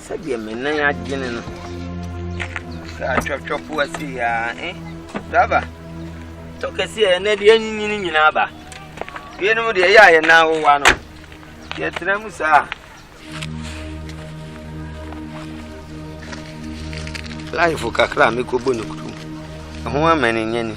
Sɛdeɛ me nan agyene no. Sɛ atwɔtwɔfo ase yɛ a, eh? Driver, tɔ kɛseɛ yɛ nɛ deɛ anyinyini nyinaa ba. Binom deɛ ɛyɛ a yɛ nan wowa no. Yɛtena mu saa. Life kakra a mekɔbɔ no kurom. Ɛho amane nyɛ ni.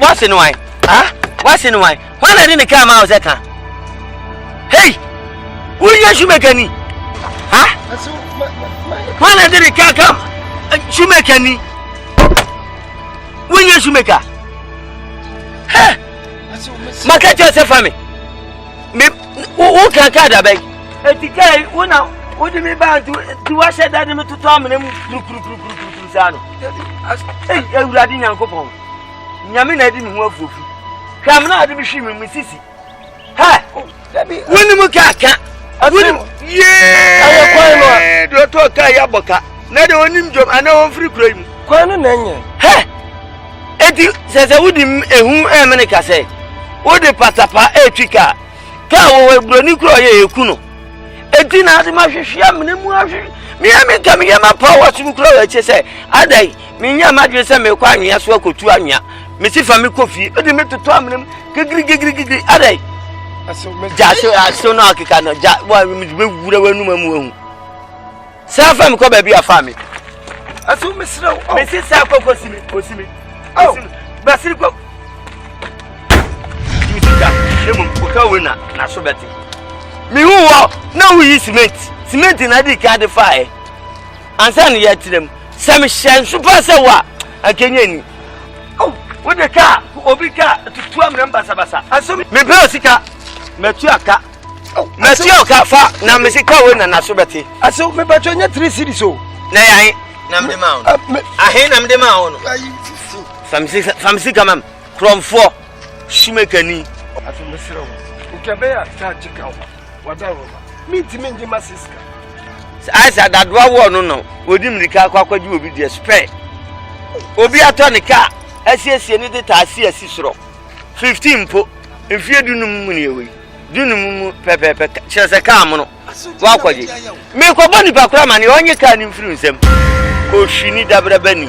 Wasi no wan? Ah, wasi no wan? Hwan na de ne kaa ma wo sɛ ka? Hei! Woyɛ shoemaker ni? Ha? Hwan na de ne kaa ka eh, shoemaker ni? Woyɛ shoemaker? Hɛ! Maka kyerɛ sɛ fa me. Me wo kan kaa da bɛn? Eti kaa yi wo na wode me baa nti wahyɛ da de me toto amena mu kurukurukurukuru. saa no ei awurade nyankopɔn nyame na adi me ho afuofu hwɛ amena ade mehwii me me sisi hɛ wonim ka ka wonim yee deɛ ɔtɔɔ ka yɛ abɔ ka na deɛ ɔnim dwom anaa ɔmfiri kura yi mu kwan no na ɛnyɛ hɛ eti sɛ sɛ wode ehu ɛmene ka sɛ wode patapa ɛtwi ka kaa wɔ buroni kura ɔyɛ ɛku no ɛti na ase mahwehwe amena mu ahwe meɛ menka meyɛ mapa wo asom kura wɔ akyɛ sɛ adɛn menyɛ madwene sɛ mekɔ anwea so akɔtu anwea mesi fa mekɔ fie ɛde metotɔ amena mu gigirigigirigiri adɛn gya so aso no akeka no gya wura w'anuma mu ahu San fa me kɔ baabi a fa me. Asu mesrɛ wo. Mesi saa kɔ kɔ si me kɔ si me. Kɔ si me. Basiri kɔ. Yi sika ne mu kɔka wei na n'aso bɛte. Mihu wɔ na woyi cement cement na adi ka de fa ɛ. Ansa ne yɛ kyerɛ mu sɛ mehyɛ nso pa sɛ wo a ankenya ni. Wode kaa obi kaa tutu amena basabasa. Asu me. Mepɛ sika. Matu aka. mɛti ɔka fa na mesi ka wei na naso bɛte ase mepatwɛ nyɛ tiri siri so na yɛ ahe na mede ma wo no ahe na mede ma wo no famsi ka mam kurɔmfoɔ sumakani aso mesrɛ wo nkɛbɛyɛ a kaa gye ka wo wada wo ma mentimi ngye ma siska ayɛsɛ adadoa woɔ no no wɔdi mmirika akɔ akɔgye obi deɛ spɛ obi atɔ ne ka asiesie ne de taa si asi sorɔ 15 mpo mfeɛ dunum mu ne ɛwɔ yi du no mu pɛpɛɛpɛ kyerɛ sɛ kaa mono woakɔgye mekɔbɔ nnipa kora ma ne ɔnye kaa no mfiri nsɛm kɔhwini dabrabani